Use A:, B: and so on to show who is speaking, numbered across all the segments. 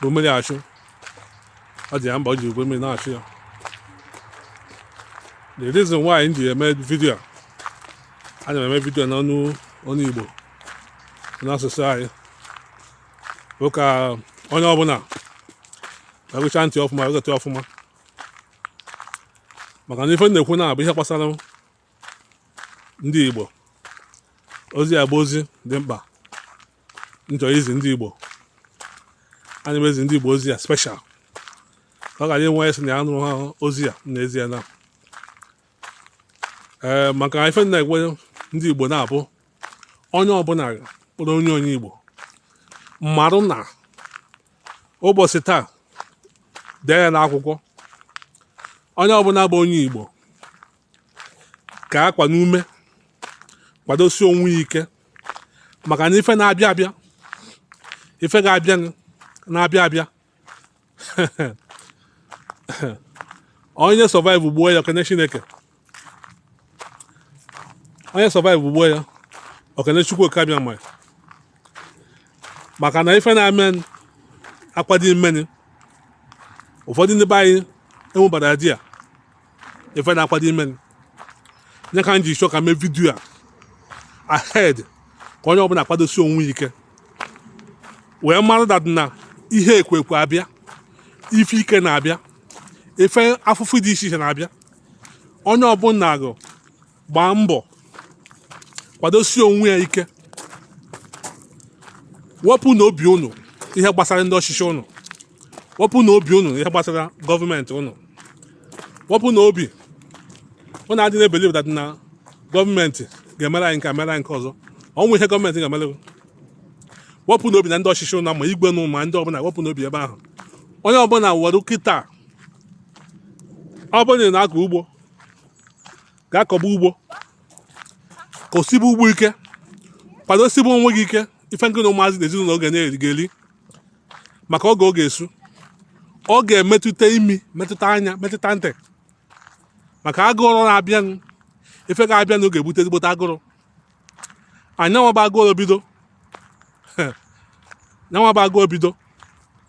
A: bụ mmiri achụ ọ dị ya mba o ji igwe mmiri na-achụ ya the reason why m ji eme vidio a ana m eme vidio n'ọnụ ọnụ igbo n'asụsụ anyị bụ ka onye ọbụla egecha ntị ọfụma aghọta ọfụma maka na ife m na-ekwu na-abụ ihe gbasara ndị igbo ozi a bụ ozi dị mkpa m chọ izi ndị Igbo ana m ezi ndị Igbo ozi a special ọ ga-enwe onye sị na ya anụha ozi a n'ezie na ee eh, maka ife m na-agwa ndị Igbo na-abụ onye ọbụla kpọrọ onwe onye Igbo marụ na ụbọchị taa dee ya n'akwụkwọ onye ọbụla bụ onye Igbo ka akwa n'ume kwadosie onwe ike maka na ife na-abịa abịa ife ga-abịa na-abịa abịa onye survive-uo ya o kene chineke onye survive-uo ya o kene chukwu oke abịama maka na ife na-eme akwado imeni ụfọdụ ndị be anyị enwebarọ idea ife na-akwado imeni ya ka m ji chọ ka m mee vidiyo a ahead ka onye ọbụla akwadosi onwe ike wee mara that na ihe ekwekwe abịa ife ike na-abịa ife afụfụ dị iche iche na-abịa onye ọbụla gụ gbaa mbọ kwadosie onwe ya ike wepụ na obi unu ihe gbasara ndị ọchịchị unu wepụ na obi unu ihe gbasara gọọmenti unu wepụnụ obi unu adị na-ebelieve that na gọọmenti ga-emere anyị nke mere anyị nke ọzọ o nwerọ ihe gọọmenti ga-emere wepụnụ obi na ndị ọchịchị unu ma igwe unu ma ndị ọbụla wepụnụ obi ebe ahụ onye ọbụla were kịta ọ bụrụ na ị na-akọ ugbo gaa kọba ugbo kọsibe ugbo ike kwadosibe onwe gị ike ife ngị na ụmụazị na ezinụlọ gị ga-eri maka oge ọ ga-esu ọ ga-emetụta imi metụta anya metụta ntị maka agụrụ na-abịanụ ife ga-abịanụ ọ ga-ebute ezigbote agụrụ nya nwa bụ agụrụ bido nya nwa bụ agụrụ bido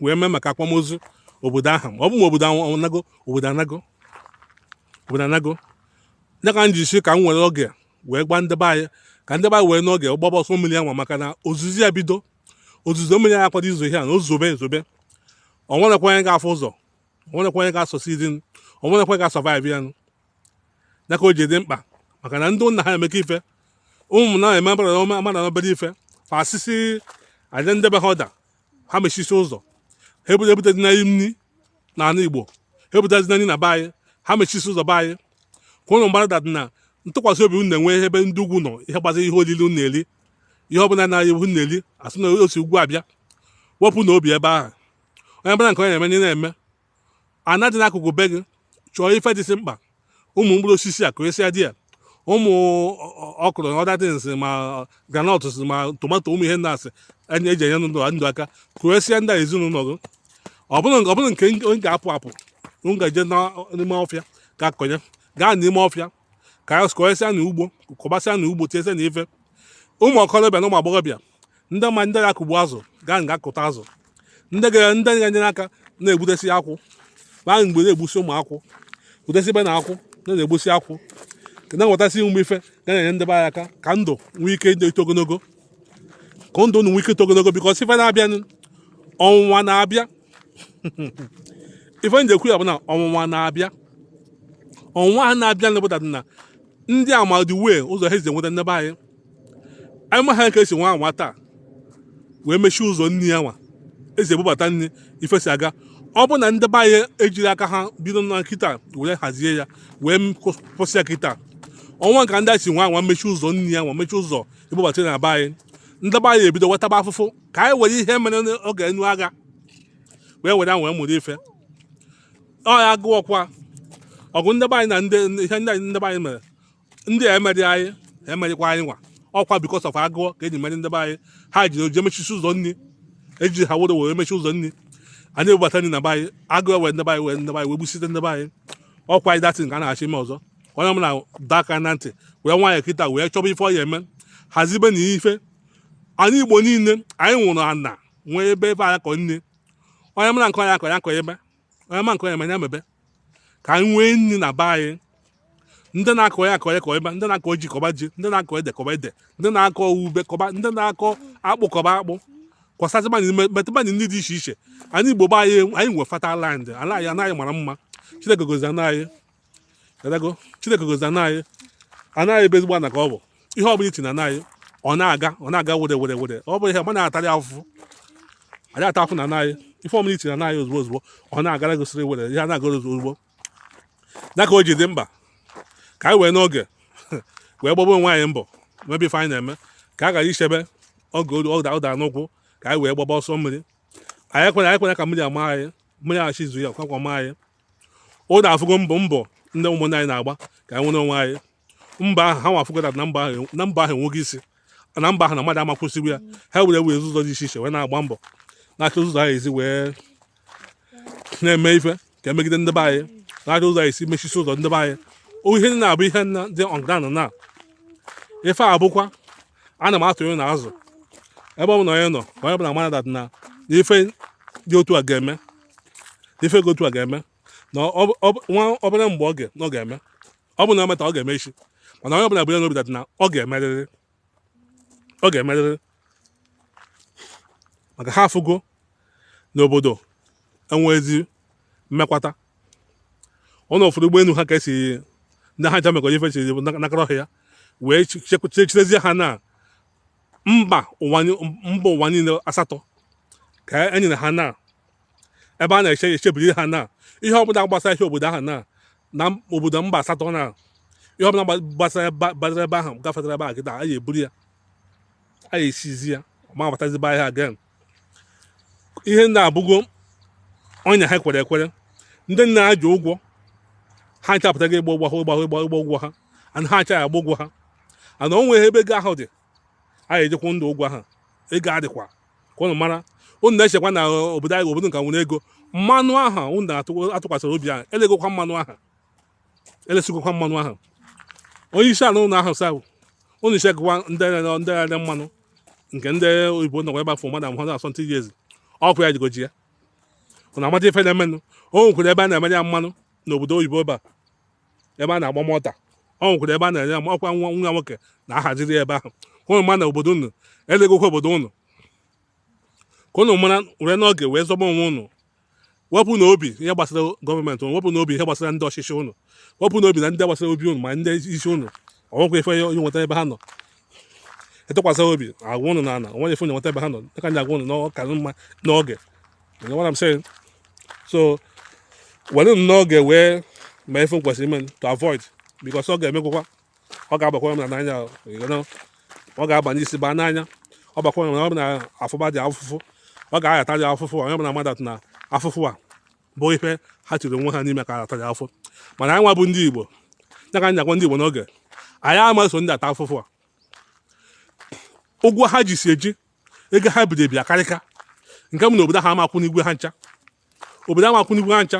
A: wee mee maka akwamozu obodo ahụ ma ọ bụ ma obodo anago obodo anago obodo anago ya ka m ji sị ka m were oge wee gwa ndị be anyị ka ndị be anyị wee n'oge gbaba ọsọ mmiri a nwa maka na ozuzo ya bido ozuzo mmiri a akwado izo ihe a na o zobe ezobe onwerekwa onye ga-afụ ụzọ onwerekwa onye ga-asucceed onwerekwa ga-asurvive ya nụ ya ka o ji dị mkpa maka na ndị nna ha emeka ife ụmụ na eme mmadụ na obere ife fa asịsị aja ndị be ha ọda ha mechisi ụzọ ha ebute ebutezina anyị nri na ala igbo ha ebutezina nri na be anyị ha mechisi ụzọ be anyị ka ụnụ mgbada dị na ntụkwasị obi unu na-enwe ebe ndị ugwu nọ ihe gbasara ihe olili unu na-eri ihe ọbụla unu na-eri asị na o si ugwu abịa wepụnụ obi ebe ahụ onye bụla nke onye na-eme na na-eme ana dị n'akụkụ be gị chọọ ife dịsị mkpa ụmụ mkpụrụ osisi a kụrịsịa di ya ụmụ okro na other things ma groundnut ma tomato ụmụ ihe ndị asị eji enye ndụ aka kụrịsịa na ezinụlọ gị ọ bụrụ nke onye ga-apụ apụ m gaje n'ime ọfịa ga-akọ ya gaa n'ime ọfịa ka anyị kọyesịa na ugbo kọbasịa na ugbo tinyesịa na ife ụmụ okolobịa na ụmụ agbọghọbịa ndị ma ndị ga-akụgbu azụ gaa nga kụta azụ ndị ga ndị ga-enyere aka na-egbutesi akwụ ma mgbe na-egbusi ụmụ akwụ gbutesi ibe na akwụ na na-egbusi akwụ na-enwetasị ụmụ ife ga na-enye ndị be anyị aka ka ndụ nwee ike ịdị eto ogologo ka ndụ unu nwee ike ito ogologo because ife na-abịanụ ọnwụnwa na-abịa ife m ji ekwu ya bụ na ọnwụnwa na-abịa ọnwụnwa ha na-abịa na-ebụta na ndị amadi wee ụzọ ha esi enweta ndị be anyị anyị ma ha ka esi nwa anwa taa wee mechie ụzọ nri ya nwa esi ebubata nri ife si aga ọ bụ na ndị be anyị ejiri aka ha bido na kịta were hazie ya wee kwụsị ya kịta ọnwa ka ndị a si nwa anwa mechie ụzọ nri ya nwa mechie ụzọ ebubata na be anyị ndị be anyị ebido wetaba afụfụ ka anyị were ihe mere oge anụ agha wee were wee mụrụ ife ọ ya gụọkwa ọgụ ndị be anyị na ndị ihe ndị ndị be anyị mere ndị a emeri anyị emerikwa anyị nwa ọkwa because of agụọ ka eji merie ndị be anyị ha ji oji emechisi ụzọ nri eji ha were were emechi ụzọ nri anyị ebubata nri na be anyị agụọ wee ndị be anyị wee ndị be anyị wee gbusite ndị be anyị ọkwa anyị that thing ka a na-achọ ime ọzọ onye m na-adọ aka na ntị wee nwaanyị kịta wee chọba ife ọ ya eme hazibe na ife anyị igbo niile anyị nwere ana nwee ebe ebe anyị kọ nri onye mara nke ọ na-akọ ya kọbe onye ma nke ọ na-eme ya mebe ka anyị nwee nri na be anyị ndị na-akọ ya akọ ya kọbe ndị na-akọ ji kọba ji ndị na-akọ ede kọba ede ndị na-akọ ube kọba ndị na-akọ akpụ kọba akpụ kọsasịbanye metụbanye ndị dị iche iche anyị igbo be anyị anyị nwe fertile land ala anyị ana anyị mara mma chineke gọzi ana anyị chineke gọzi ana anyị ana anyị bụ ezigbo ana ka ọ bụ ihe ọ bụla i tinye na ana anyị ọ na-aga ọ na-aga were were were ọ bụ ihe ma na-atarị afụfụ anyị ata afụ na ana anyị ife ọbụla i tinye na ana anyị ozugbo ozugbo ọ na-agara gosiri were ihe a na-agara ozugbo ya ka o ji dị mkpa ka anyị wee n'oge wee gbagbo onwe anyị mbọ mebe ife anyị na-eme ka a ghara ichebe oge ụda ụda n'ụkwụ ka anyị wee gbaba ọsọ mmiri anyị ekwena ka mmiri ama anyị mmiri aghachi izo ya kwakwa ma anyị ụnụ afụgo mbọ mbọ ndị ụmụnne anyị na-agba ka anyị nwere onwe anyị mbọ ahụ ha nwa afụgo na mbọ ahụ na mbọ ahụ enweghị isi na mbọ ahụ na mmadụ ama kwụsịrị ya ha were were ụzọ dị iche iche wee na-agba mbọ na-achọ ụzọ a ya-esi wee na-eme ife ka e megide ndị be anyị na-achọ ụzọ a ya-esi mechisi ụzọ ndị be anyị O ihe na-abụ ihe na dị on ground na ife a bụkwa ana m atụnye na azụ ebe ọ bụla onye nọ ka onye bụla mara that na ife dị otu a ga-eme ife dị otu a ga-eme na nwa obere mgbe ọ ga ga-eme ọ bụ na o meta ọ ga-eme isi mana onye ọbụla bu ya n'obi that na ọ ga-emerịrị ọ ga-emerịrị maka ha afụgo na obodo enwezi mmekwata ụnụ fụrụ ụgbọelu ha ka esi ndị ha ncha mekọrọ ife chiri nakọrọ ọhịa wee chechirezie ha na mba ụwa ni- mba ụwa niile asatọ ka e nyere ha na ebe a na-eche echebiri ha na ihe ọbụla gbasara ihe obodo ahụ na na obodo mba asatọ na ihe ọbụla gba- gbasara ebe- gbasara ebe ahụ gafetara ebe ahụ kịta a ga-eburu ya a ga-eseize ya ọ ma abatazi be ha again ihe ndị a abụgo ọnya ha kwere ekwere ndị niile ha ji ụgwọ ha ncha apụtago ịgba ụgwọ ha ịgba ụgwọ ịgba ụgwọ ha and ha ncha ya-agba ụgwọ ha and o nweghị ebe ego ahụ dị a ga-eji kwụọ ndị a ụgwọ ha ego adịkwa ka ụnụ mara ụnụ na-echekwa na obodo anyị obodo nka nwere ego mmanụ aha ụnụ na-atụkwasịrị obi ahụ elegokwa mmanụ aha elesigokwa mmanụ ahụ onye isi ala ụnụ ahụ sabụ ụnụ isi agụwa ndị agha mmanụ nke ndị oyibo nọkwa ebe afọ mmadụ amụhụ asọ ntị ezi ọkụ ya jigoji ya ụnụ amata ife na-emenụ o nwekwara ebe a na-emere ya mmanụ n'obodo oyibo ebe a ebe a na-akpọ Malta o nwekwara ebe a na-enye ya ọkwa nwa nwa nwoke na-ahaziri ebe ahụ ụnụ ma na obodo ụnụ elegokwa obodo ụnụ ka ụnụ mara were n'oge wee zọba onwe ụnụ wepụnụ obi n'ihe gbasara government ụnụ wepụnụ obi n'ihe gbasara ndị ọchịchị ụnụ wepụnụ obi na ndị gbasara obi ụnụ ma ndị isi ụnụ o nwekwa ife ụnụ ya-enweta ebe ha nọ atụkwasị obi agwa ụnụ na ala o nwere ife ụnụ ya-enweta ebe ha nọ dịka ndị agwa ụnụ na ọ ka mma n'oge You know what I'm saying? so werenụ n'oge wee ma ife kwesịrị ime to avoid because ọ ga-emegwụkwa ọ ga-agbakwa m na n'anya ọ ga-aba n'isi baa n'anya ọ bakwa na ọ bụ na afụba dị afụfụ ọ ga-aghata dị afụfụ onye ọbụla ma that na afụfụ a bụ ihe ha tiri onwe ha n'ime ka a ya-ata dị afụ mana anyị nwa bụ ndị igbo ya ka anyị agwa ndị igbo n'oge anyị ama so ndị a taa afụfụ a ụgwọ ha ji si eji ego ha bido bịa karịka nke m na obodo ha ama akwụnwu ụgwọ ha ncha obodo amakwụnigwu ha ncha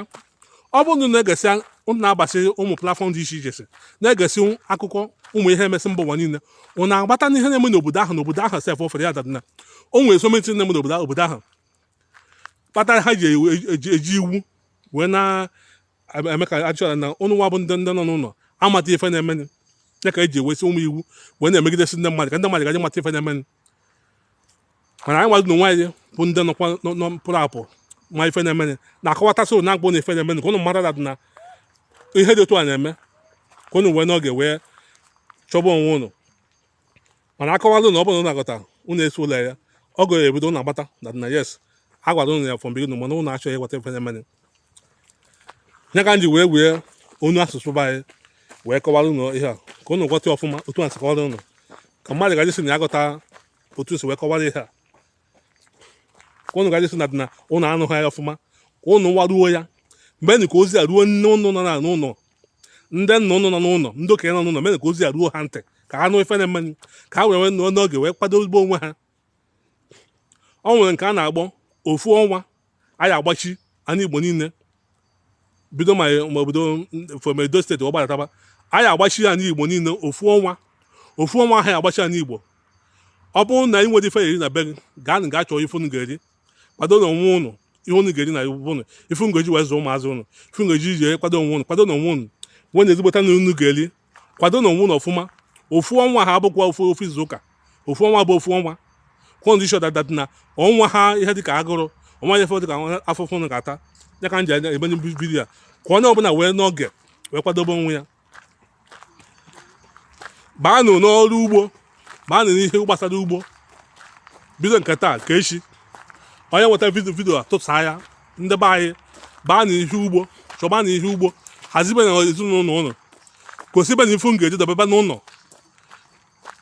A: ọ bụrụ na unu na-egesi unu na-abasị ụmụ platform dị iche iche si na-egesi akụkọ ụmụ ihe na-emesi mba ụwa niile unu aghọta na ihe na-eme n'obodo ahụ na obodo ahụ sef ofere ya that na o nwere something na-eme n'obodo obodo ahụ kpatara ha ji ewu- eji eji iwu wee na-eme ka achọrọ na ụnụ nwa bụ ndị ndị nọ n'ụlọ amata ife na-emenụ ya ka eji ewesi ụmụ iwu wee na-emegidesi ndị mmadụ ka ndị mmadụ gaji mata ife na-emenụ mana anyị nwazụ n'onwe anyị bụ ndị nọkwa pụrụ apụ ma ife na-emenụ na-akọwatasị ụnụ na-agwa ụnụ ife na-emenụ ka ụnụ mara that na ihe dị otu a na-eme ka ụnụ wee n'oge wee chọba onwe ụnụ mana akọwalụ ụnụ ọ bụrụ na aghọta ụnụ esi ụlọ ya ọ ga-ebido ụnụ aghọta that na yes a gwara ụnụ ya from beginning mana ụnụ achọghị ịghọta ife na-emenụ ya ka m ji wee wee ọnụ asụsụ be anyị wee kọwara ụnụ ihe a ka ụnụ ghọta ọfụma otu a si kọwara ụnụ ka mmadụ gaji si na ya aghọta otu si wee kọwara ihe a ka ụnụ gaji si na dị na ụnụ anụghị ya ọfụma ka ụnụ nwa ruo ya meenụ ka ozi a ruo nne ụnụ nọ n'ụlọ ndị nna ụnụ nọ n'ụlọ ndị okenye nọ n'ụlọ mere ka ozi a ruo ha ntị ka ha nụ ife na-emenụ ka ha wee nwee n'oge wee kwadobe onwe ha o nwere nke a na-akpọ ofu ọnwa a ya-agbachi ani Igbo niile bido ma obodo from Edo State gbadataba a ya-agbachi ani Igbo niile ofu ọnwa ofu ọnwa a ya-agbachi ani Igbo ọ bụrụ na ị nwere ife eri na be gị gaa gaa chọọ ife unu ga-eri kwadonụ onwe ụnụ ihe unu ga-eri na iwu ụnụ ife unu ga-eji wee zụọ ụmụazị ụnụ ife unu ga-eji ji kwado onwe ụnụ kwadonụ onwe ụnụ nwee na ezigbota na unu ga-eri kwadonụ onwe ụnụ ọfụma ofu ọnwa ha abụkwa ofu ofu izu ụka ofu ọnwa bụ ofu ọnwa ka ụnụ dị sure that that na o nweha ihe dịka agụrụ o nweha ihe dịka afụfụ ụnụ ga-ata ya ka m ji emenye video a ka onye ọbụla wee n'oge wee kwadobe onwe ya baanụ n'ọrụ ugbo baanụ n'ihe gbasara ugbo bido nke taa ka echi onye nweta video video a tụsa ya ndị be anyị baanụ ihe ugbo chọbanụ ihe ugbo hazibenụ ezinụlọ ụnụ gosibenụ ife ụnụ ga-eri dobebe n'ụlọ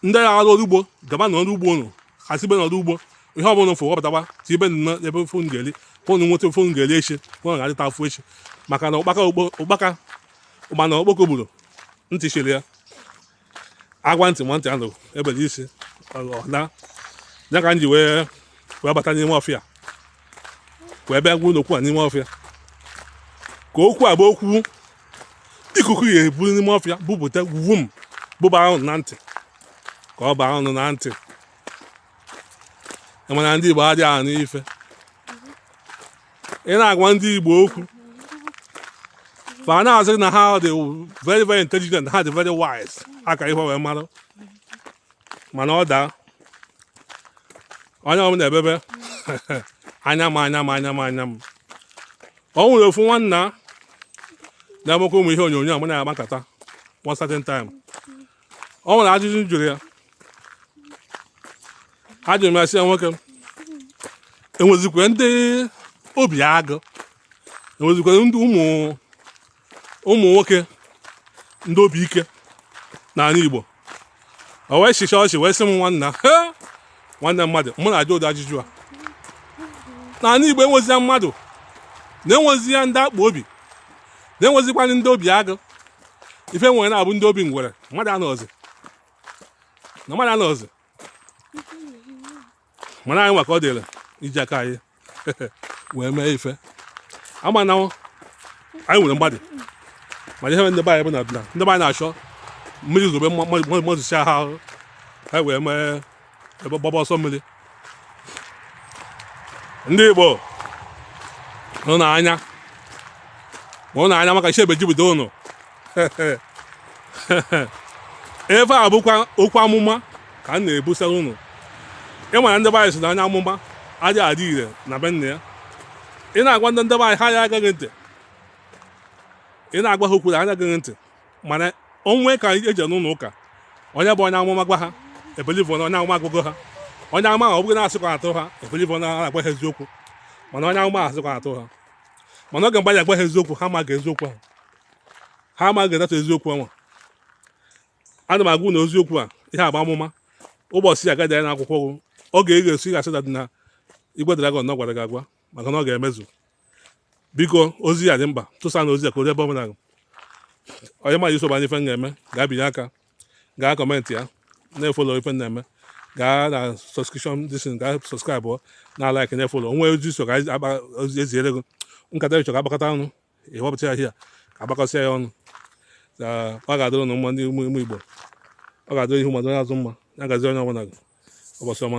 A: ndị na-arụ ọrụ ugbo gabanụ ọrụ ugbo ụnụ hazibenụ ọrụ ugbo ihe ọbụla fụ wepụtaba tiibe n'ebe ife ụnụ ga-eri ka ụnụ nweta ife ụnụ ga-eri echi ka ụnụ ga-adịta afụ echi maka na ụkpaka ụkpana okpoko gburu ntị chiri ya a gwa ntị ma ntị anụ e bere isi ọ naa ya ka m ji wee bata n'ime ọfịa wee bịa gwa ụnụ okwu a n'ime ọfịa ka okwu a bụ okwu ikuku ya-ebu n'ime ọfịa bupụta wum buba ụnụ na ntị ka ọ baa ụnụ na ntị mana ndị Igbo adịghị anụ ife ị na-agwa ndị Igbo okwu fa na-asị na ha dị very very intelligent ha dị very wise aka ihe wee mara mana ọ daa onye ọbụla ebebe anya m anya m anya m anya m ọ nwere ofu nwanna na-emekwa ụmụ ihe onyonyo a mụ na-akpa nkata one certain time ọ nwere ajụjụ m jụrụ ya ajụrụ m ya sị ya nwoke enwezikwe ndị obi agụ enwezikwe ndị ụmụ ụmụ nwoke ndị obi ike n'anị Igbo o wee chịcha ọchị wee sị m nwanna he nwanne mmadụ mụ na-ajụ ụdị ajụjụ a n'anị Igbo enwezia mmadụ na-enwezi ya ndị akpọ obi na-enwezikwanụ ndị obi agụ ife e nwere na-abụ ndị obi ngwere mmadụ anọzi na mmadụ anọzi mana anyị maka ọ dịrị iji aka anyị wee mee ife a ma na anyị nwere mmadụ mana ihe ndị be anyị bụ na ndị be anyị na-achọ mmiri zobe mazịsịa ha ahụ ha wee mee ebe gbaba ọsọ mmiri ndị Igbo mụnụ anya mụnụ anya maka chi ebe ejibido ụnụ ife a bụkwa okwu amụma ka m na-ebusara ụnụ ị mara ndị be anyị sị na onye amụma ada adị ire na be nna ya ị na-agwa ndị ndị be anyị ha ya egeghị ntị ị na-agwa ha okwu ha aya egeghị ntị mana o nwee ka e jee n'ụlọ ụka onye bụ onye amụma gwa ha ebelieve na onye amụma agwago ha onye amụma ọ bụghị na-asịkwa atụ ha ebelieve na a gwa ha eziokwu mana onye amụma asịkwa atụ ha mana oge mgbe anyị agwa ha eziokwu ha amaghị eziokwu ahụ ha amaghị edata eziokwu ahụ ana m agwa ụnụ eziokwu a ihe a bụ amụma ụbọchị ya a ga-ede ya na akwụkwọ gụọ oge ị ga-esi ga-asị na Igwe Dragon na gwara gị agwa maka na ọ ga-emezu biko ozi a dị mkpa tụsanụ ozi a ka o ebe ọbụla onye ma iso banye ife m ga-eme gaa binye aka gaa comment ya na-efollow ife m na-eme gaa na subscription disin gaa subscribe na like na-efollow o nwee ozi so ka akpa ozi eziere gị nkata ị chọ ka a kpakọta ọnụ i wepụta ya here ka a kpakọsịa ya ọnụ ka ọ ga-adịrị ụnụ mma ndị ụmụ igbo ọ ga-adịrị ihu mma dị onye azụ mma ya gazie onye ọbụla gị ụbọchị ọma